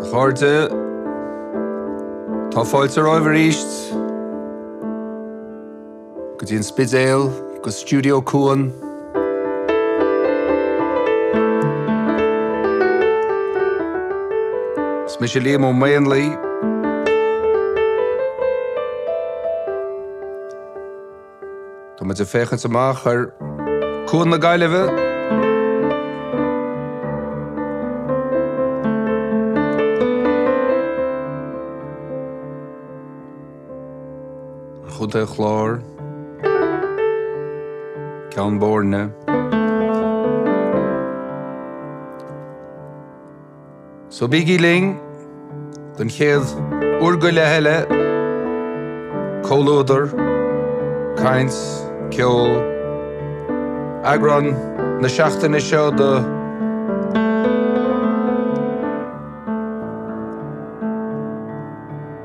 A chairde, tá fáilte romhaibh aríst! Go dtí an Spidéal, go Studio Cuan. Is mise Liam Ó Maonlaí. Tá muid ag féachaint amach ar Chuan na Gaillimhe. Contae an Chláir, Ceann Bóirne, So bígí linn don chéad uair an chloig eile, comhluadar, caint, ceol, eagrán na seachtaine seo do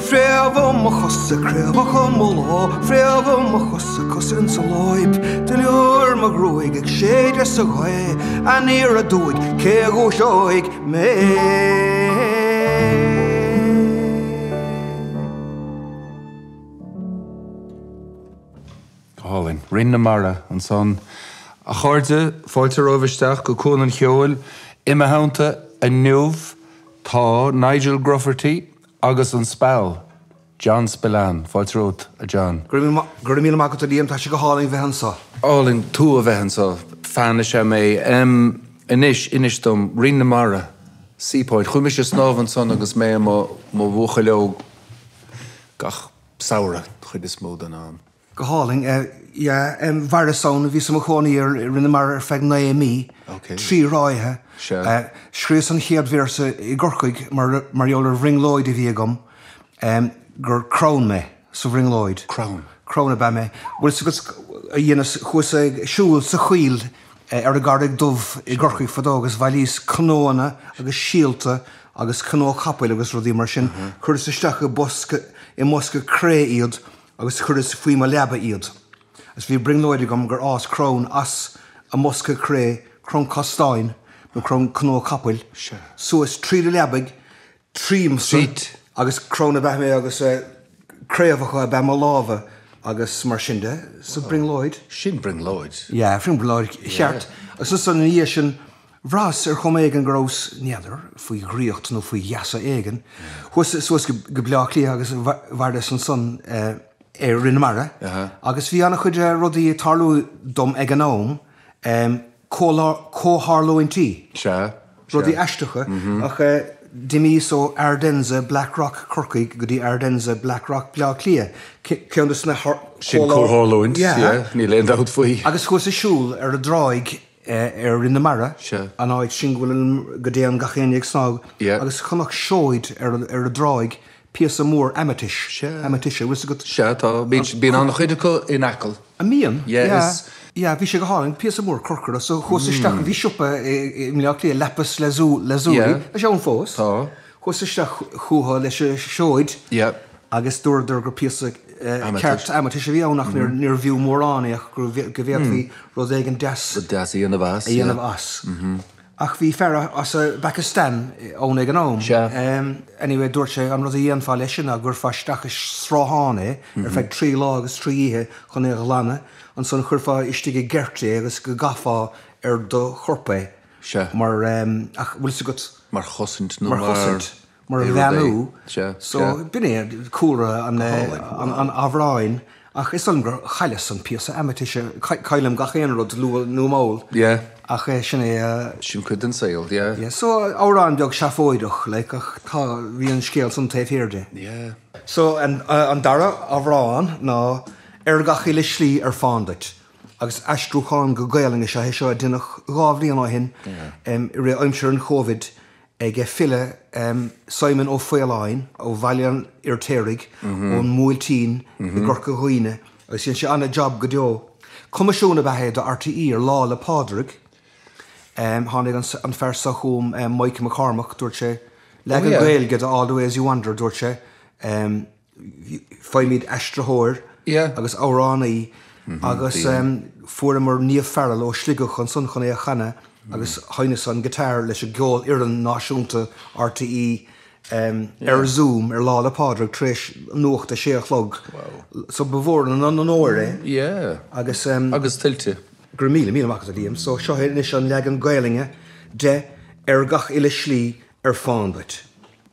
Fréamha mo chosa, craobhacha mo lámh, fréamha mo chosa, cosa in sa láib, duilliúr mo ghruaige ag séideadh sa ghaoth, aniar aduaidh, cé a dhúiseoidh mé? Go hálainn. Rinn na Mara ansan, a chairde, fáilte romhaibh isteach go Cuan an Cheoil. I mo theannta inniu tá Nigel Grufferty Agus an speal! John Spillane, fáilte romhat, a John. Go raibh míle maith agat, a Liam. Tá sé go hálainn bheith anseo. Álainn tú a bheith anseo. Fan leat sa mé. Anois, inis dom, Rinn na Mara, Seapoint, chuaigh mise ag snámh ansan agus mé i mo bhuachaill óg gach samhradh, an chuid is mó den am. Go hálainn. Eh yeah, em mhaireas ann, bhíos i mo chónaí i Rinn na Mara ar feadh naoi mí, trí ráithe. Eh scríos an chéad véarsa i gCorcaigh mar, mar gheall ar bhrionglóid a bhí agam, em gur crann mé, sa bhrionglóid. Crann? Crann ab ea mé. Bhuel so cad a dheineas, chuas ag siúl sa choill ar an gCarraig Dhubh i gCorcaigh fadó agus bhailíos cnóanna agus síolta agus cnó chapaill agus rudaí mar sin, chuireas isteach i bosca, i mbosca cré iad agus chuireas faoi mo leaba iad, agus bhí brionglóid agam gur fhás crann as an mbosca cré, crann castáin nó crann cnó capaill, suas tríd an leabaidh tríomsa, agus crann ab ea mé agus craobhacha ab ea mo lámha agus mar sin de, sa bhrionglóid. Sin brionglóid. Yeah, brionglóid cheart. Agus ansan ina dhiaidh sin, Bhraitheas ar chuma éigin go rabhas n'fheadar, faoi dhraíocht nó faoi gheasa éigin, chuas suas go Bleá Cliath agus mhaireas ansan ar Rinn na Mara agus bhí an-chuid rudaí ag tarlú dom ag an am, comhtharlúintí, rudaí aisteacha, ach d'imíos ó Ardenza, Black Rock, Corcaigh go dtí Ardenza, Black Rock, Bleá Cliath, ceann de na comhtharlúintí, sin comhtharlúint, yeah, níl aon dabht faoi, agus chuas ag siúl ar an dtráigh ar Rinn na Mara, an áit sin go bhfuil an, go dtéann gach éinne ag snámh agus chonac seoid ar an dtráigh, píosa mór aimitis, aimitis, a' bhfuil 'fhios agat? Sea, tá, bíonn an-chuid acu in Acaill. An mbíonn? Yeah, yeah, bhí sé go hálainn, píosa mór corcra, so chuas isteach, bhí siopa i mBleá Cliath, Lapis Lazuli, tá sé ann fós. Tá. Chuas isteach chucu leis an seoid agus dúradar gur píosa ceart aimitis a bhí ann ach níor bhfiú mórán é ach go bhféadfaí rud éigin deas a dhéanamh as. Ach bhí fear as an bPacastáin ann ag an am, anyway dúirt sé an rud a dhéanfá leis sin ná go gcuirfeá isteach i sruthán é ar feadh trí lá agus trí oíche chun é a ghlanadh, ansan chuirfeá istigh i gceirt é agus go gcaithfeá ar do chorp é. Sea. Mar, ach, bhfuil 's agat. Mar chosaint nó mar. Mar chosaint, mar a bheannú. Sea, sea. So, b'in é cúlra an. Go hálainn. An amhráin ach is dóigh liom gur chailleas an píosa aimitis, caillim gach aon rud luath nó mall. Yeah. Ach sin é. Sin cuid den saol, yeah. Yeah, so amhrán beag seafóideach, like, ach tá, bhí an scéal san taobh thiar de. Yeah. So an dara amhrán ná Ar gach uile slí ar fán duit, Agus aistriúchán go Gaelainn is ea é seo a deineadh dhá bhliain ó shin, i rith aimsir an Chovid, ag a file Simon Ó Faoláin ó Bhaile an Fhirtéaraigh ón mBuailtín i gCorca Dhuibhne agus dhein sé an-jab go deo. Coimisiún ab ea é do RTÉ ar Lá 'le Pádraig. Tháinig an fear seo chugam, Mike McCormack, dúirt sé, leagan Gaeilge de All the Ways You Wander, dúirt sé, Faighimid aistritheoir agus amhránaí agus fuaireamar Niamh Farrell ó Shligeach ansan chun é a chanadh agus sheinneas an guitar leis an gCeolfhoireann Náisiúnta RTÉ ar Zoom ar Lá 'le Pádraig tar éis Nuacht a 6 a chlog so ba mhór an onóir é agus tuillte go raibh míle míle maith agat a Liam so seo chugat anois an leagan Gaelainne de Ar Gach Uile Slí ar Fán Duit.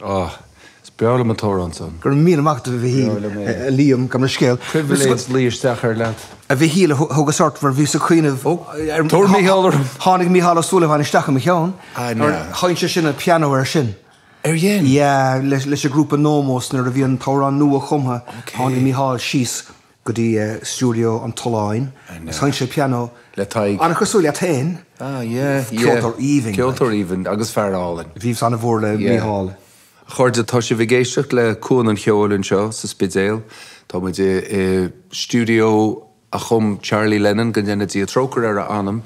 Oh, is breá liom an t-amhrán san. Go raibh míle maith agat, a Mhichíl. Breá liom é. A Liam, gabh mo leithscéal. Pribhléid luí isteach air leat. A Mhichíl, thugas ort, mar bhíos ag cuimhneamh ar, Tabhair Mícheál orm! Tháinig Mícheál Ó Súilleabháin isteach i mo cheann. Ah, na. Sheinn sé sin an pianó air sin. Ar dhein? Yeah, leis an ghrúpa Nomos nuair a bhí an t-amhrán nua chumtha, tháinig Mícheál síos. go dtí stiúideo an tSuláin agus sheinn sé pianó le Tadhg, an-chosúil leat féin, ceoltóir aoibhinn, ceoltóir aoibhinn agus fear álainn. Bhíos an-mhór le Mícheál. A chairde, tá sibh ag éisteacht le Cuan an Cheoil anseo sa Spidéal. Tá muid i stiúideo a chum Charlie Lennon, go ndéana Dia trócaire ar a anam.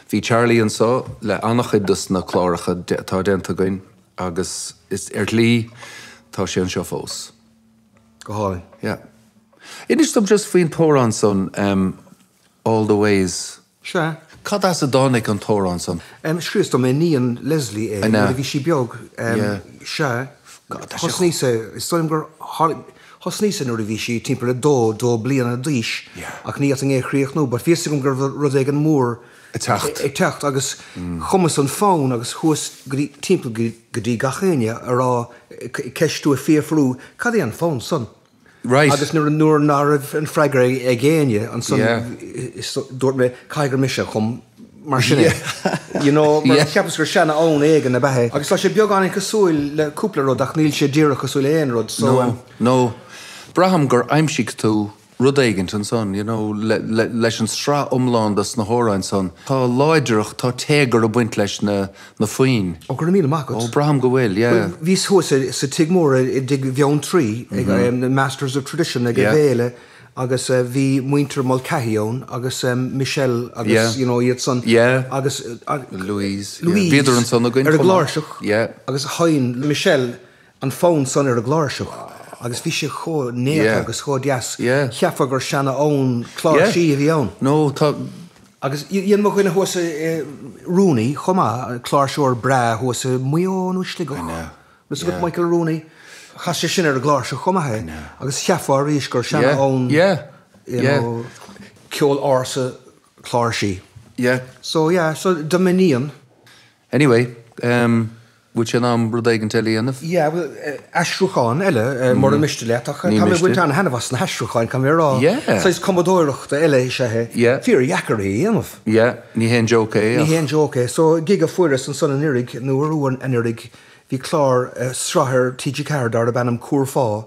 Bhí Charlie anso le an-chuid dos na cláracha atá déanta againn agus ar shlí tá sé anseo fós. Go hálainn, yeah. Inis dom just faoin t-amhrán san All the Ways. Sea. Cad as a dtáinig an t-amhrán san? Scríos do m'iníon Leslie é nuair a bhí sí beag. Sea. Thosnaíos é, is dóigh liom gur thosnaíos é nuair a bhí sí timpeall a dó, dó bliana d'aois ach ní fhéadfainn é a chríochnú but bhí 'fhios agam go raibh rud éigin mór, ag teacht agus chumas an fonn agus chuas timpeall go dtí gach éinne a rá, ag ceistiú, ag fiafrú cad é an fonn san? Right. Agus nuair ná raibh an freagra ag éinne, ansan Yeah. Dúirt mé, caithfidh gur mise a chum mar sin é. You know, mar Yeah. cheapas gur seana-fhonn éigin ab ea é. Agus tá sé beagáinín cosúil le cúpla rud ach níl sé díreach cosúil le aon rud so. No, no. Braithim gur aimsigh tú. Rud éigint ansan, you know, leis an sraith iomlán de sna hamhráin san, tá láidreacht, tá téagar ag baint leis na foinn. Ó, go raibh míle maith agat. Ó, braithim go bhfuil, yeah. Bhuel, bhíos thuas sa tigh mór i dTigh Bheanntraí ag na Masters of Tradition ag an bhféile agus bhí muintir Mulcahy ann agus Michelle agus, you know, iad san agus Louise, Louise, bhíodar ansan againn chomh maith, ar an gcláirseach agus sheinn Michelle an fonn san ar an gcláirseach agus bhí sé chomh néata agus chomh deas, cheapfá gur seana-fhonn cláirsí a bhí ann. nó tá. Agus dhein mo dhuine thuas, Rooney, chomh maith, cláirseoir breá thuas i Maigh Eo nó i Sligeach, Michael Rooney, chas sé sin ar an gcláirseach chomh maith é, agus cheapfá arís gur seana-fhonn, you know, ceol ársa cláirsí. yeah. So yeah, so do m'iníon. Anyway, bhfuil sé in am rud éigint eile a dhéanamh? Yeah, aistriúchán eile, mura miste leat, ach tá mé ag baint an-thaitneamh as na haistriúcháin, caithfidh mé a rá. Saghas cumadóireachta eile is ea é, fíordheacair é a dhéanamh. Yeah, ní haon joke é ach. Ní haon joke é. So, gig a fuaireas ansan anuiridh, nó arú anuiridh, bhí clár, sraith ar TG4 darb ainm Cúrfá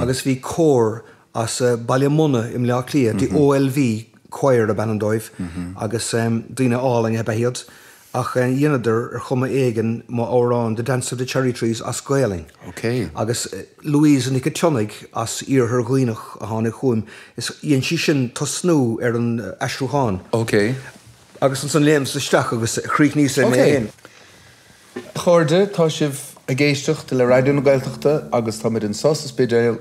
agus bhí cór as Baile Munna i mBleá Cliath, The OLV Choir ab ainm dóibh agus daoine álainn ab ea iad ach dheineadar ar chuma éigin mo amhrán The Dance of the Cherry Trees as Gaolainn. Agus Louise Nic an tSionnaigh as Iarthar Dhuibhneach a tháinig chugam is dhein sí sin tosnú ar an aistriúchán agus ansan léimeas isteach agus chríochnaíos é mé fhéin. A chairde, tá sibh ag éisteacht le Raidió na Gaeltachta agus táimid anso sa Spidéal.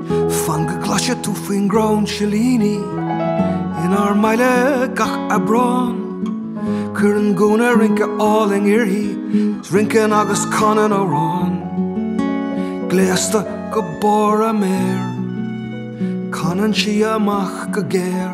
Fan go gcloise tú faoin gcrann silíní inár mbaile gach Aibreán, Cuireann gúna rince álainn uirthi 's rinceann agus canann amhrán, Gléasta go barr a méar, canann sí amach go géar.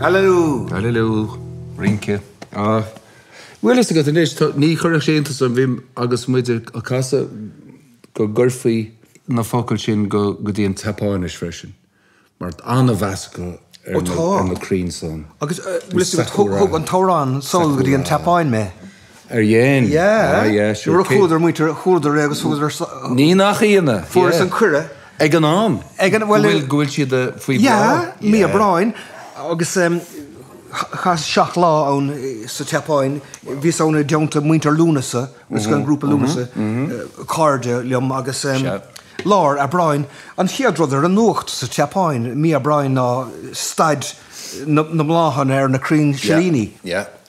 Alleloo! Alleloo! Rince. Ah. Bhfuil a fhios agat anois, tá, ní chuirfeadh sé iontas orm, bhí agus muid ag casadh go gcuirfí na focail sin go, go dtí an tSeapáinis freisin. Mar tá an-mheas acu ar na crainn san. Agus thug an t-amhrán sall go dtí an tSeapáin mé. Ar dhein? Yeah. Nuair a chualadar muintir, chualadar é agus thugadar sall. Ní nach ionadh. Fuaireas an cuireadh. Ag an am? Ag an, bhuel. Go bhfuil siad faoi bhláth? Yeah, mí Aibreáin. Agus chaitheas seacht lá ann sa tSeapáin. Bhíos ann i dteannta muintir Lúnasa, agus an grúpa Lúnasa, cairde liom agus. Sea. Lár Aibreáin, An chéad rud ar an nuacht sa tSeapáin mí Aibreáin ná staid na mbláthanna ar na crainn silíní.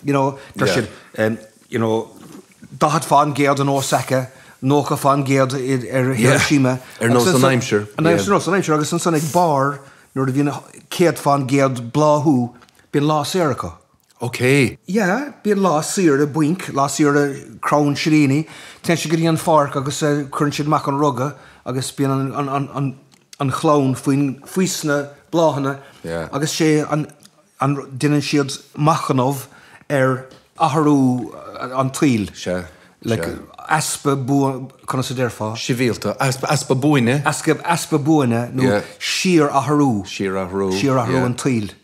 You know, deir siad, you know, daichead fá an gcéad in Osaka, nócha fá an gcéad ar Hiroshima. Yeah, ar nós an aimsir. Ar nós an aimsir, agus ansan ag barr, nuair a bhíonn céad fá an gcéad bláthú, bíonn lá saor acu. OK. Yeah, bíonn lá saoire bainc, lá saoire crann silíní, téann siad go dtí an pháirc agus cuireann siad amach an ruga agus bíonn an, an, an, an, an chlann faoin, faoi sna bláthanna Yeah. agus sé an, an, déanann siad machnamh ar athrú an tsaoil, Sea, like sea. easpa bua, conas a déarfá? Sibhialta, easpa, easpa buaine. Easpa, easpa buaine nó Yeah. síorathrú, Síorathrú, síorathrú yeah. an tsaoil.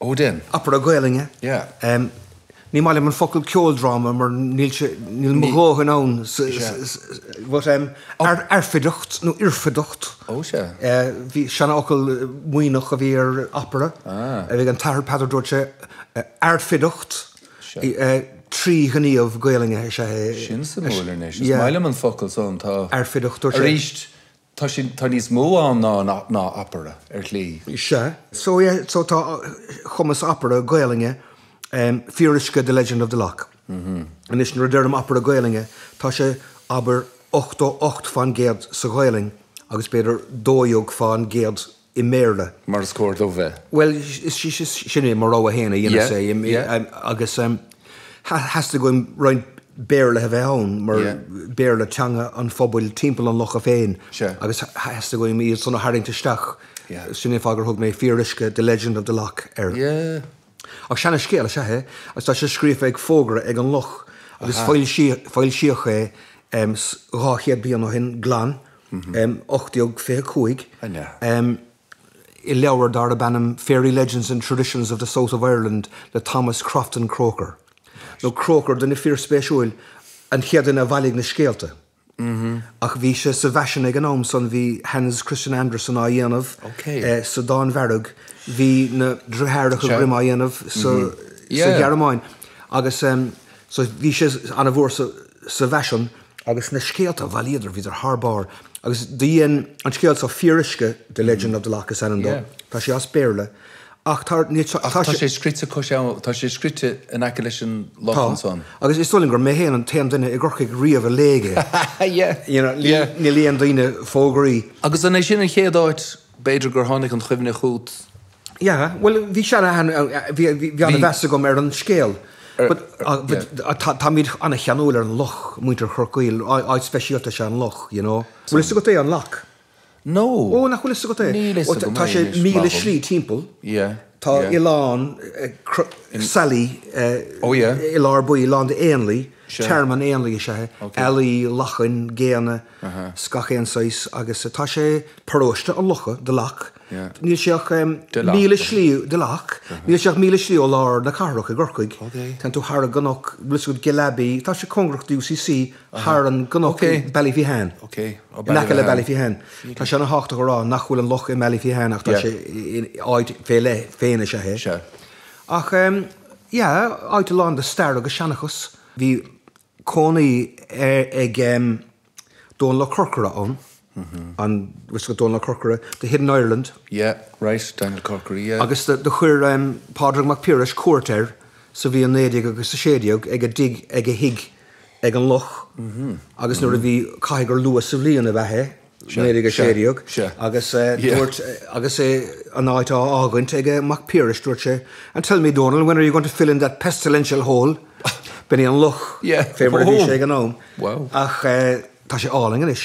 Ó dhein. Opera Gaolainne. Yeah. Ní maith liom an focal ceoldráma mar níl sé, níl mo dhóthain ann sa, but airfideacht nó oirfideacht. Oh sea. Bhí seanfhocal Muimhneach a bhí ar opera. Ah. Bhí an tAthair Peadar a dúirt sé airfideacht trí ghníomh Gaolainne is ea é. Sin suimiúil anois. Is maith liom an focal san, tá. Airfideacht, dúirt sé. Aríst, Tá sé, tá níos mó ann ná, ná, ná opera, ar shlí. Sea, so yeah, so tá chumas opera Gaolainne em, fíoruisce The Legend of the Lough. Anois, nuair a deirim opera Gaolainne, tá sé, abair, ochtó ocht fán gcéad sa Ghaolainn agus b'fhéidir dó dhéag fán gcéad i mBéarla. Mar is cóir dó bheith. Bhuel, sin é, mo rogha féin a dhéanfas é, agus theastaigh uaim roinnt Béarla a bheith ann, mar Béarla teanga an phobail timpeall an locha féin, agus theastaigh uaim iad san a tharraingt isteach, sin é an fáth gur thug mé Fíoruisce, The Legend of the Lough, air. Ach seana-scéal is ea é agus tá sé scríofa ar fógra ag an Loch agus foilsíodh é dhá chéad bliain ó shin glan, 1825, i leabhar darb ainm Fairy Legends and Traditions of the South of Ireland le Thomas Crofton Croker, nó Croker, duine fíor-spéisiúil, an chéad duine a bhailigh na scéalta. Ach bhí sé sa bhfaisean ag an am san, bhí Hans Christian Andersen á dhéanamh sa Danmhairg, bhí na dritheáracha Grimm á dhéanamh sa Ghearmáin agus so bhí sé ana-mhór sa bhfaisean. Agus na scéalta, a bhailíodar, bhíodar thar barr. Agus do dhein an scéal seo Fíoruisce, The Legend of the Lough is ainm dó, tá sé as Béarla Ach tá sé. Ach tá sé scríte cois abhann, tá sé scríte in aice leis an loch ansan. Tá, agus is dóigh liom gur mé fhéin an t-aon duine i gCorcaigh riamh a léigh é. You know, ní léann daoine fógraí. Agus an é sin an chéad áit, b'fhéidir, gur tháinig an chuimhne chugat? Yeah, bhuel, bhí sé ana, bhí ana mheas agam ar an scéal. But, but, táimid ana cheanúil ar an loch, muintir Chorcaí, áit speisialta is ea an loch, you know. Bhfuil fhios agat é, an loch? No! Ó, nach bhfuil fhios agat é? Níl fhios agam é anois, má tá. Tá sé míle slí timpeall. Yeah. Tá oileán sailí i lár baill, lán de éanlaith, tearmann éanlaith is ea é, ealaí, lachain, géanna 's gach aon saghas agus tá sé, paróiste an locha, The Lough, níl sé ach míle slí, The Lough, níl sé ach míle slí ó lár na cathrach i gCorcaigh. Tagann tú thar an gcnoc, bhfuil fhios agat, Gillabey, tá sé cóngarach do UCC. thar an gcnoc i mBallyphehane, in aice le Ballyphehane. Tá sé an-thábhachtach a rá nach bhfuil an loch i mBallyphehane ach tá sé in áit fé leith féin is ea é. Ach yeah, áit lán de stair agus seanchas. Bhí cónaí ag Dónall Ó Corcora ann. an bhfuil fhios agat Dónall Ó Corcora, The Hidden Ireland? Yeah, right, Daniel Corkery, yeah. Agus do chuir Pádraig Mac Piarais cuairt air sa bhliain naoi déag agus a sé déag ag a dtigh ag a thigh ag an loch agus nuair a bhí, caithfidh gur luath sa bhliain ab ea é, naoi déag a sé déag, agus dúirt, agus é, an áit á fhágaint ag Mac Piarais, dúirt sé, And tell me Dónall, when are you going to fill in that pestilential hole? B'in é an loch, fé mar a bhí sé ag an am. Ach. Tá sé álainn anois.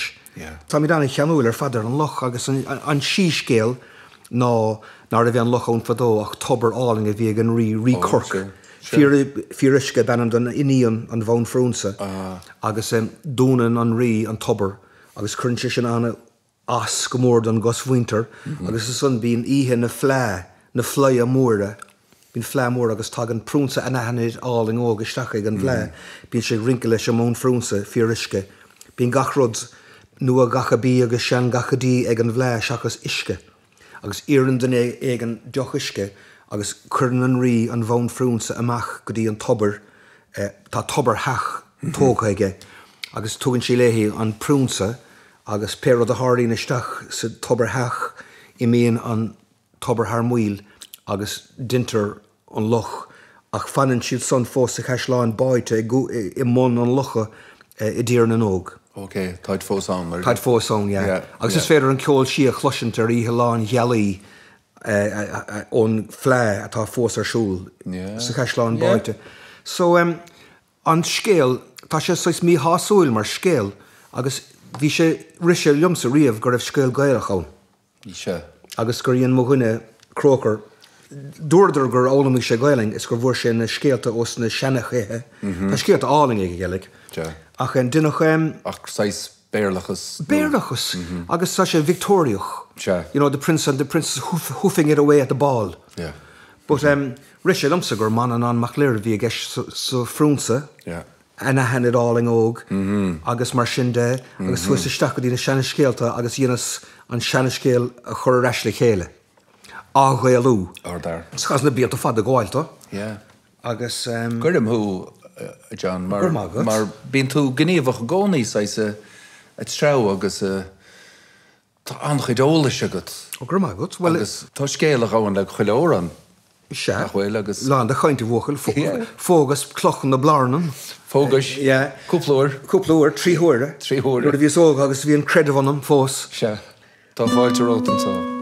Táimid an-cheanúil ar fad ar an loch agus an síscéal ná ná raibh aon loch ann fadó ach tobar álainn a bhí ag an rí, Rí Corc. Fíoruisce ab ainm don iníon, an Bhanphrionsa, agus dúnann an rí an tobar agus cuireann sé sin an, ais go mór don gcosmhuintir agus ansan bíonn oíche na fleá, na fleidhe móire, bíonn fleá mór agus tagann prionsa anaithnid álainn óg isteach chuig an bhfleá, bíonn sé ag rince leis an mbanphrionsa fíoruisce, bíonn gach rud nua gacha bídh agus sean gacha dí ag an bhfleá seachas uisce. agus iarrann duine éigin deoch uisce agus cuireann an Rí an Bhanphrionsa amach go dtí an tobar, tá tobar theach tógtha aige, agus tugann sí léi an Prionsa agus pé rud a tharlaíonn istigh sa tobar theach, imíonn an tobar thar maoil agus deintear an loch, ach fanann siad san fós sa chaisleán báite i mbun an locha i dTír na nÓg. Ok, táid fós ann, very good. Táid fós ann, yeah. Yeah, yeah. Agus is féidir an ceol sí a chloisint ar oíche lánghealaí ón bhfleá atá fós ar siúl sa chaisleán báite. Yeah, yeah. So, umm, an scéal, tá sé saghas míshásúil mar scéal, agus bhí sé, rith sé liomsa riamh go raibh scéal Gaelach ann. Sea. Agus gur dhein mo dhuine, Croker, dúradar gur fhoghlaimigh sé Gaelainn is gur bhfuair sé na scéalta ós na seanchaithe, tá scéalta álainne aige, Gaeilge, ach deineadh. Ach saghas Béarlachas nó. Béarlachas, agus tá sé Victeoiriach, you know, the Prince and the Princess hoofing it away at the ball. Yeah. But rith sé liomsa gur Manannán Mac Lir a bhí i gceist sa Phrionsa. Yeah. anaithnid álainn óg agus mar sin de agus chuas isteach go dtí na seanscéalta agus dheineas an seanscéal a chur ar ais le chéile, a athghaelú. Ard fhear. Chaitheas na blianta fada ag gabháil dó agus. Gairim thú, a John, mar bíonn tú gníomhach i gcónaí, saghas a' treabhadh agus. Tá an-chuid eolais agat. Go raibh maith agat. Bhuel. Agus tá scéal a ghabhann le chuile amhrán, Sea. nach bhfuil? Agus. Lán de chaint, a bhuachaill. Yeah. Phógas Cloch na Blarnan. Phógais. Yeah. Cúpla uair. Cúpla uair. Trí huaire. Trí huaire. Nuair a bhíos óg agus bhí an creideamh ionam fós. Sea. Tá fáilte romhat anseo.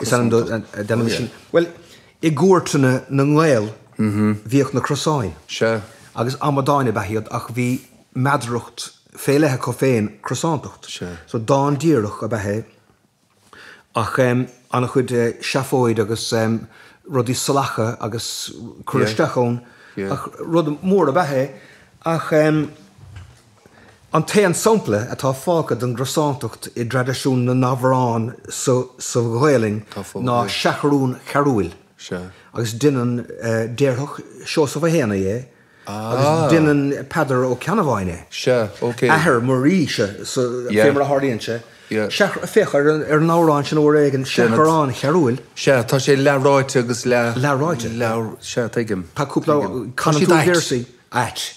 Is ainm den dán sin, bhuel, i gcúirteanna na nGael bhíodh na crosáin, agus amadáin ab ea iad ach bhí meadaracht fé leith acu féin, crosántacht, so dán díreach ab ea é ach an-chuid seafóid agus rudaí salacha agus curtha isteach ann ach rud mór ab ea é ach. An t-aon sampla atá fágtha den gcrosántacht i dtraidisiún na n-amhrán sa Ghaelainn ná 'Seachrán Chearúill', agus duine, déarfadh Seosamh Ó hÉanaí é, agus duine Peadar Ó Ceannabháin é, athair Mháire, fé mar a tharlaíonn sé, féach ar an amhrán sin uair éigin, 'Seachrán Chearúill'. Sea, tá sé leathráite agus leath. Leathráite? Sea, tuigim. Tá cúpla, canúint, véarsaí ait.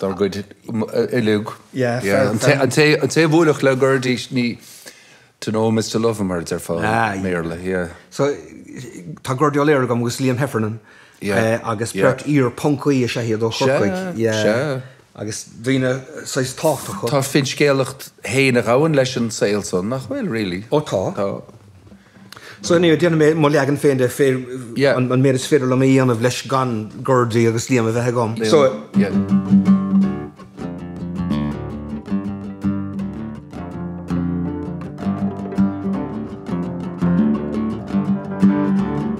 dár gcuid uilig. An té a bhuailfeadh le Gurdy, ní To know him is to love him, mar a deirfeadh an Béarla, yeah. So, tá Gurdy O'Leary agam agus Liam Heffernan agus beirt iar-phoncaí is ea iad ó Chorcaigh. Sea, sea. Agus daoine saghas tábhachtacha. Tá finscéalacht fhéin a ghabhann leis an saol san, nach bhfuil, really? Ó tá. Tá. So anyway, déanfaidh mé mo leagan féin de, pé an méid is féidir liom a dhéanamh leis gan Gurdy agus Liam a bheith agam. So.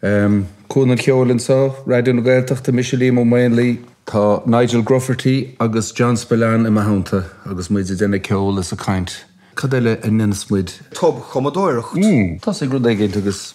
Cuan an Cheoil anseo, Raidió na Gaeltachta, mise Liam Ó Maonlaí. Tá Nigel Grufferty agus John Spillane i mo theannta agus muid ag déanamh ceoil is ag caint. Cad eile a ndéanfadh muid? Tobchumadóireacht. Thosaigh rud éigin agus.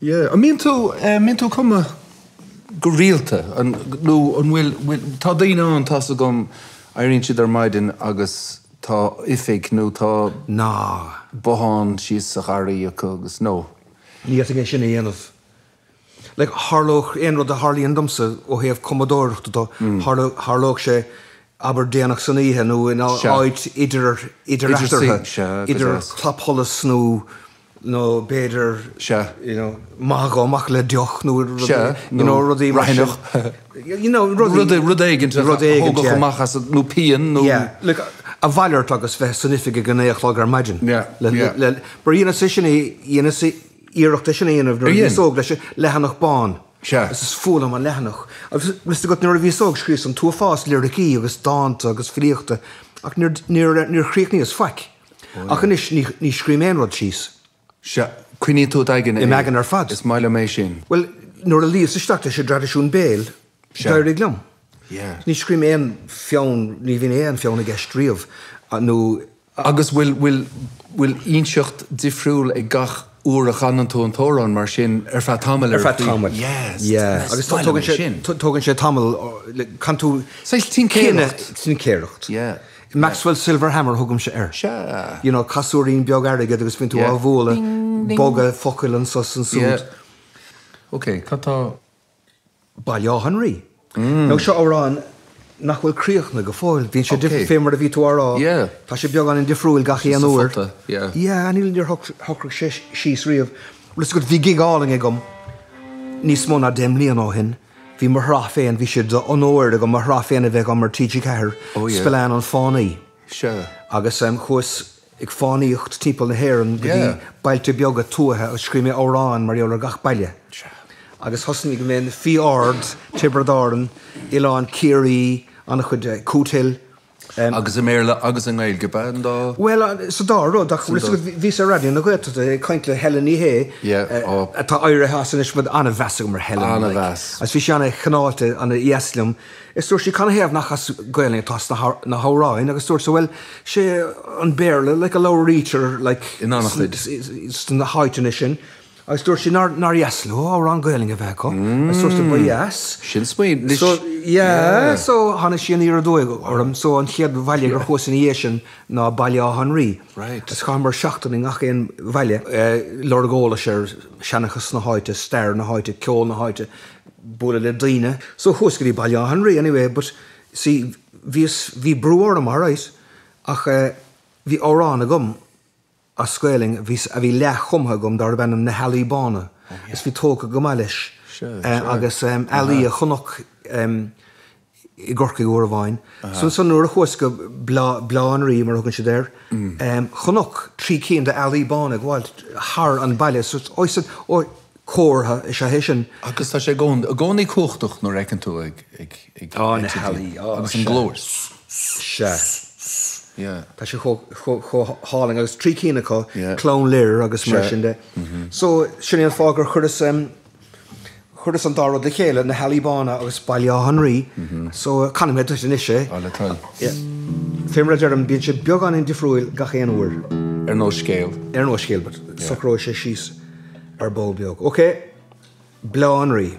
Yeah, an mbíonn tú, eh, mbíonn tú ag cumadh go rialta an, nó an bhfuil, bhfuil, tá daoine ann, tá's agam, éiríonn siad ar maidin agus tá oifig nó tá, ná, bothán thíos sa gharraí acu agus, nó. Ní fhéadfainn é sin a dhéanamh. like, tharlódh aon rud a tharlaíonn domsa ó thaobh cumadóireachta de, tharlódh, tharlódh sé, abair, déanach san oíche nó in áit idir, idir eatarthu, idir clapsholas nó, nó b'fhéidir, you know, ag dul amach le deoch nó rud éigin, you know, rudaí mar sin, you know, rudaí, rud éigin a thógfadh amach asat nó pian nó. Yeah, like, a mhalairt agus bheith san oifig ag a naoi a chlog ar maidin le, le, mar dheineas é sin, dheineas. iarracht é sin a dhéanamh nuair a bhíos óg leis an leathanach bán. Is fuath liom an leathanach. Agus bhí sé agat nuair a bhíos óg, scríos an t-uafás liricí agus dánta agus filíochta ach níor chríochnaíos faic. Ach anois ní scrím aon rud síos. Sea, coinneoidh tú i d'aigne é. I m'aigne ar fad. Is maith liom é sin. Bhuel, nuair a luíos isteach leis an dtraidisiún béil, d'éirigh liom. Ní scrím aon pheann, ní bhíonn aon pheann i gceist riamh nó. Agus bhfuil, bhfuil, bhfuil insint dhifriúil ag gach uair a chanann tú an t-amhrán mar sin ar feadh tamaill ar feadh tamaill, yes, yeah, agus tógann sé, tógann sé tamall, canann tú saghas tincéireacht, tincéireacht, yeah, Maxwell's Silver Hammer thugaimse air, sea, you know, casúirín beag airgid agus bíonn tú á bhualadh, bogadh focail anso 's ansúd. Yeah, ok, cad atá. Baile Átha an Rí. Now seo amhrán nach bhfuil críochnaithe go fóill. Bíonn sé difriúil, fé mar a bhí tú á rá, tá sé beagáinín difriúil gach aon uair. Yeah, níl, níor shocraigh sé síos riamh. Bhuel, you see, bhí gig álainn agam níos mó ná deich mbliana ó shin. Bhí mo shraith féin, bhí sé d'onóir agam mo shraith féin a bheith agam ar TG4, Spillane an Fánaí. Agus chuas ag fánaíocht timpeall na hÉireann go dtí bailte beaga tuaithe agus scríobh mé amhráin mar gheall ar gach baile agus thosnaíos i bhFiodh Ard, Tiobraid Árann, Oileán Chiarraí, an-chuid, Cootehill. em. Agus i mBéarla agus i nGaeilge b'ea an dá? Bhuel, sa dá rud, ach bhíos ar Raidió na Gaeltachta ag caint le Helen Ní Shé, atá éirithe as anois, but an-mheas agam ar Helen, like, agus bhí sí an-chineálta, an-dheas liom. Is dúirt sí, Canathaobh nach as Gaelainn atá na hamhráin? Agus dúrtsa, Bhuel, sé an Béarla like a labhraítear like in an-chuid des na háiteanna sin. Agus dúirt sí nár dheas leo amhrán Gaelainn a bheith acu. Agus dúrtsa, Ba dheas. Sin smaoineamh, anois. So, yeah. So, tháinig sí aniar aduaidh orm. So, an chéad bhaile gur chuas ina dhiaidh sin ná Baile Átha an Rí. Right. Agus chaitheamar seachtain i ngach aon bhaile, ag lorg eolais ar sheanchas na háite, stair na háite, ceol na háite, bualadh le daoine so chuas go dtí Baile Átha an Rí anyway but see bhíos bhí brú orm alright ach eh bhí amhrán agam as Gaelainn a bhí leath-chumtha agam darbh ainm Na hEalaí Bána agus bhí tógtha go maith leis agus eh ealaí a chonac i gCorcaigh uair amháin. So ansan nuair a chuas go Bleá an Rí mar a thugann siad air, chonac trí cinn d'ealaí bána ag gabháilt thar an baile. So ó ansan, ó, comhartha is ea é sin. Agus tá sé i gcónaí, i gcónaí cumhachtach nuair a fheiceann tú iad ag, ag, Á na healaí, á agus an glór sea, ss, ss, sea, ss, ss, yeah. Tá sé chomh, chomh, chomh hálainn agus trí cinn acu, Yeah. Clann Lir agus mar sin de. So sin é an fáth gur chuireas. Chuireas an dá rud le chéile, na hEalaí Bána agus Baile Átha an Rí, so canfaidh mé duit anois é. Ó le do thoil. Fé mar a deirim, bíonn sé beagáinín difriúil gach aon uair. Ar nós scéil. Ar nós scéil, but socróidh sé síos ar ball beag. OK, Bleá an Rí.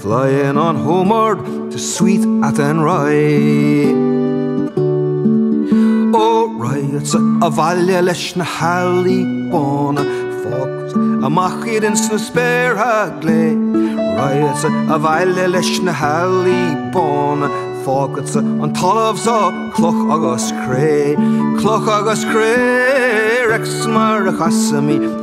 Flying on homeward to sweet Athenry. Ó raghadsa abhaile leis na healaí bána, fágfad amach iad ins na spéartha glé. Raghadsa abhaile leis na healaí bána, fágadsa an talamh so cloch agus cré. Cloch agus cré, Rex, mar a chasaimid.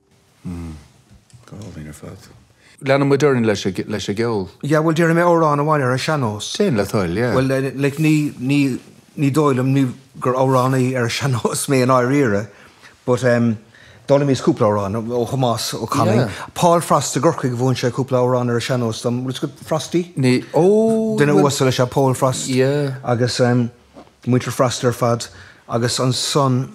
Mmm. Go hálainn ar fad. Leanann muid orainn leis an gceol. Yeah, bhuel, déarfaidh mé amhrán amháin ar an sean-nós. Déan le do thoil, yeah. Bhuel, like, ní, ní, ní dóigh liom, ní, gur amhránaí ar an sean-nós mé i ndáiríre, but ehm, d'fhoghlaimíos cúpla amhrán ó Thomás Ó Canainn. Yeah. Paul Frost i gCorcaigh, mhúin sé cúpla amhrán ar an sean-nós dom, rud is go, Frosty? Ní, ó, bhuel. Duine uasal is ea Paul Frost. Yeah. Agus ehm, muintir Frost ar fad, agus ansan.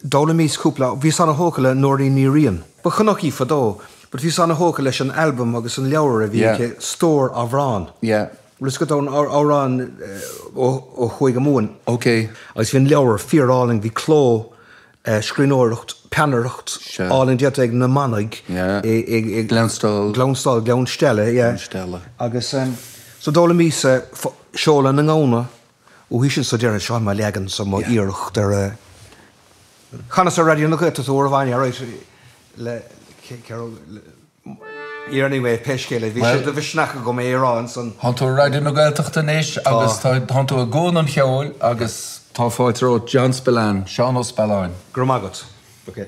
D'fhoghlaimíos cúpla. Bhíos ana thógtha le Nóirín Ní Riain. Ba Chonnachtach í fadó, but bhíos ana thógtha leis an albam agus an leabhar a bhí aici, stór amhrán. Yeah. Bhfuil fhios agat amhráin ó Chúige Mumhan? Okay. Agus bhí an leabhar fíorálainn, bhí cló, scríbhneoireacht, peannaireacht, álainn déanta ag na manaigh i Gleann Stáil, Gleann Stella, yeah, Gleann Stella. agus so d'fhoghlaimíos seoladh na ngamhna Uaithi sin so déarfainn seo é mo leagansa mo iarracht ar chanas é ar Raidió na Gaeltachta uair amháin, right, anyway pé scéal é bhí sé de mhisneach agam é a rá ansan. Thánn tú ar Raidió na Gaeltachta anois agus thánn tú i gcuan an cheoil agus. Tá fáilte romhat John Spillane, Seán Ó Spealáin. Go raibh maith agat.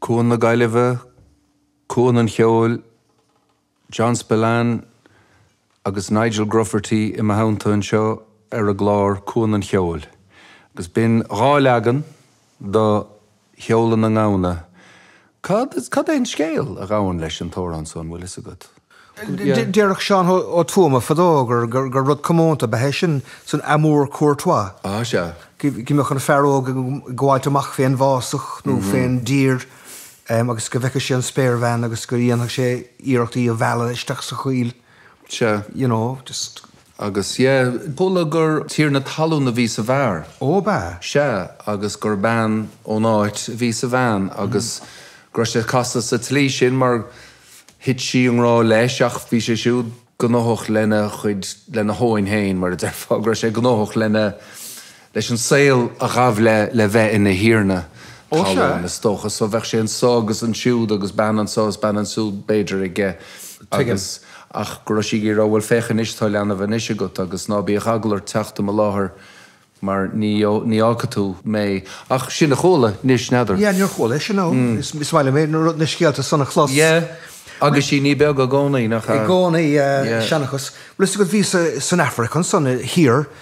Cuan na Gaillimhe, cuan an cheoil, John Spillane agus Nigel Grufferty i mo theannta anseo ar an gclár Cuan an Cheoil agus b'in dhá leagan do sheoladh na ngamhna. Cad, cad é an scéal a ghabhann leis an t-amhrán so, an bhfuil fhios agat? Yeah. Déarfadh Seán Ó Tuama fadó gur, gur, gur rud comónta ab ea é sin san amour courtois. Ah, sea. Go mbeadh an fear óg ag gabháilt amach fén bhfásach nó fén dtír agus go bhfeicfeadh sé an spéirbhean agus go dhéanfadh sé iarracht í a mhealladh isteach sa choill. Sea. You know, just. Agus, yeah, chuala gur tiarna talún a bhí sa bhfear. Ó, ab ea? Sea, agus gur bean ón áit a bhí sa bhean agus go raibh sé casta sa tslí sin mar thit sí i ngrá leis ach bhí sé siúd gnóthach lena chuid, lena thóin féin, mar a déarfá, go raibh sé gnóthach lena. leis an saol a ghabh le le bheith ina thiarna talún, is dócha. So bheadh sé anseo agus ansiúd agus bean anseo is bean ansúd, b'fhéidir, aige agus, ach, go raibh sí ag iarraidh a rá, bhuel, féach anois, tá leanbh anois agat agus ná bíodh eagal ort teacht i mo láthair mar ní, ní fhágfaidh tú mé. Ach sin a chuala, anois, n'fheadar. Yeah, níor chuala é sin, no. Is maith liom é, na rud, na scéalta san a chlos. Yeah, agus sí ní beag i gcónaí, nach ea? I gcónaí, yeah, seanchas. Bhfuil 'fhios agat, bhíos-sa san Afraic ansan, thiar,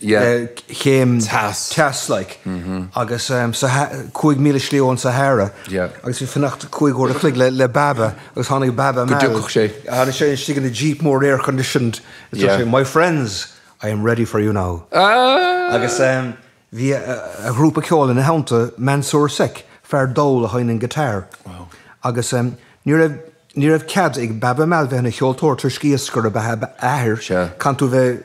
chéim teas like agus so cúig míle slí ón Sahara agus bhí fanacht cúig uair an chloig le Baaba agus tháinig Baaba Maal, tháinig sé istigh ina jeep mór air conditioned is dúirt sé my friends I am ready for you now agus bhí a ghrúpa ceoil ina theannta Mansour Seck, fear dall a sheinneann guitar agus ní raibh, ní raibh cead ag Baaba Maal bheith ina cheoltóir toisc iascaire ab ea a athair, chaith tú bheith.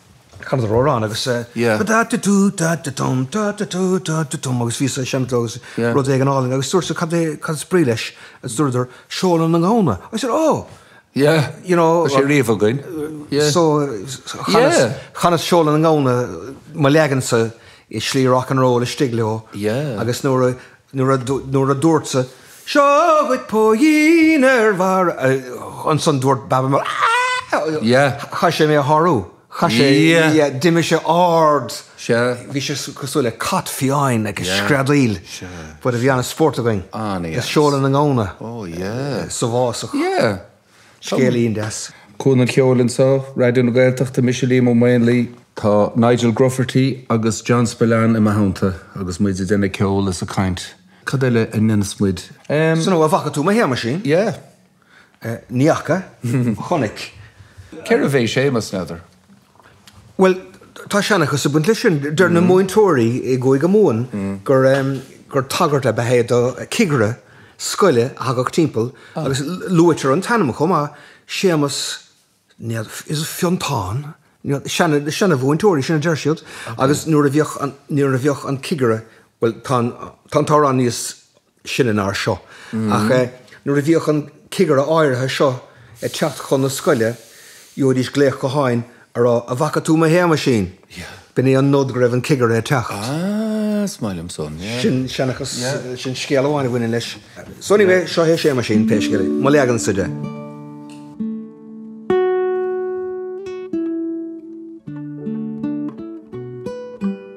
Chanadar amhrán agus eh. Yeah. Ba da da dú da da dum da da dú da da dum agus bhí sé seinm agus Yeah. rud éigin álainn agus dúrtsa cad é cad is brí leis agus dúradar seoladh na ngamhna. I said ó Yeah. you know Tá sé riamh againn. Yeah. so chanas Yeah. chanas seoladh na ngamhna mo leagansa i slí rock and roll istigh leo Yeah. agus nuair a Nuair a dúrtsa, 'Seo dhuit póigín ar bharr', ansan dúirt Baaba Maal, 'Ahh! Chaith sé mé a shárú. Chaith sé, yeah, d'imigh sé ard. Bhí sé cosúil le cat fiáin ag screadaíl. But bhí ana-spórt againn le seoladh na ngamhna sa bhfásach. Scéilín deas. Cuan an cheoil anseo, Raidió na Gaeltachta, mise Liam Ó Maonlaí. Tá Nigel Grufferty agus John Spillane im theannta agus muid ag déanamh ceoil is ag caint. Cad eile a ndéanas muid? Sin a bhfuil, an bhfaca tú mo Shéamaisín? Yeah. Ní fhaca. Chonaic. Cérbh é Séamas, n'fheadar? Bhuel, tá seanchas ag baint leis sin. Deir na múinteoirí i gCúige Mumhan gur tagairt ab ea é do chigire scoile a thagadh timpeall agus luaitear an t-ainm chomh maith, Séamas, is it Fionntán? na seanamhúinteoirí sin a deir siad agus nuair a bhíodh an cigire, bhuel tá an t-amhrán níos, sine ná seo, ach nuair a bhíodh an cigire áirithe seo ag teacht chun na scoile, gheobhaidís glaoch gutháin á rá An bhfaca tú mo Shéamaisín? B'in é an nod go raibh an cigire ag teacht. Sin seanchas, sin scéal amháin a bhaineann leis. So anyway, seo é Séamaisín, pé scéal é, mo leagansa de.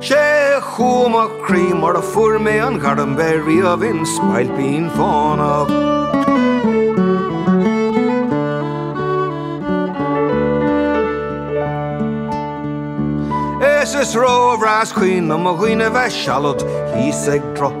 Sé chumha mo chroí mar a fuair mé an ghairm bheith riamh im spailpín fánach. Is is róbhreá is cuimhin liom mo dhaoine bheith sealad thíos ag droch.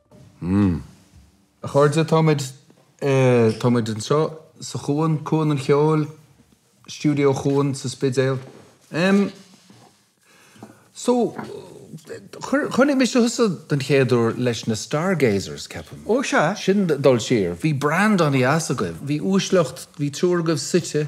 Mmm. A chairde, tá muid, eh, tá muid anseo sa Chuan, Cuan an Cheoil, Stiúideo Cuan sa Spidéal. Em, so, chonaic mise thusa den chéad uair leis na Stargazers, ceapaim. Ó, sea. Sin dul siar. Bhí brand an-dheas agaibh, bhí uaisleacht, bhí triúr agaibh suite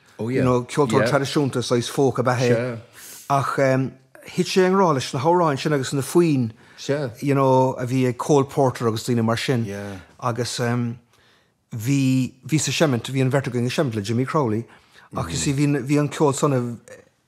you know, ceoltóir traidisiúnta, saghas folk ab ea é, ach thit sé i ngrá leis na hamhráin sin agus na foinn, you know, a bhí ag Cole Porter agus daoine mar sin agus bhí, bhíos ag seimint, bhí an bheirt againn ag seimint le Jimmy Crowley ach, you see, bhí an ceol san a,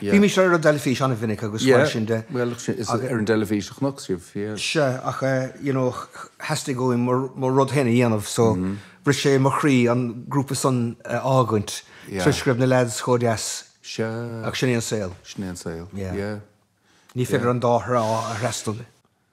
Bhímís ar an dteilifís an-mhinic agus mar sin de. Yeah, bhuel, is ar an dteilifís a chonac sibh, yeah. Sea, ach you know, theastaigh uaim mo rud féin a dhéanamh so bhris sé mo chroí an grúpa san a fhágaint toisc go raibh na lads chomh deas. Sea. Ach sin é an saol. Sin é an saol, yeah. Ní féidir an dá thrá a fhreastal.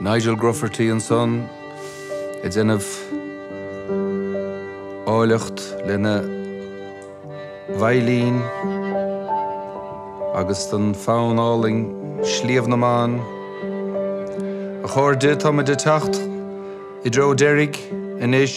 Nigel Grufferty ansan ag déanamh áilleacht lena veidhlín agus don fonn álainn 'Sliabh na mBan'. A chairde, táimid ag teacht i dtreo deiridh anois.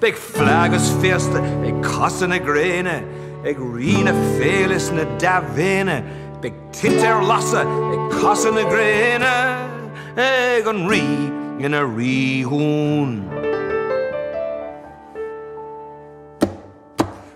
Beidh fleadh is féasta ag casadh na gréine, ag rí na féile is na dea-mhéine, beidh tinte ar lasadh ag casadh na gréine, ag an rí ina rídhún.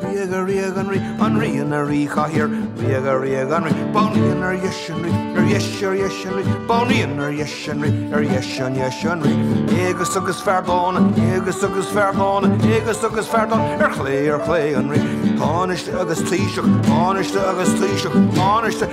Ríoga, ríoga an rí, an rí ina ríchathaoir. Ríoga, ríoga an rí, banríon ar dheis an rí, ar dheis, ar dheis an rí, banríon ar dheis an rí, ar dheis, ar dheis an rí. Éigeas agus fear dána, éigeas agus fear dána, éigeas agus fear dána, ar chlé, ar chlé an rí. Tánaiste agus taoiseach, tánaiste agus taoiseach, tánaiste.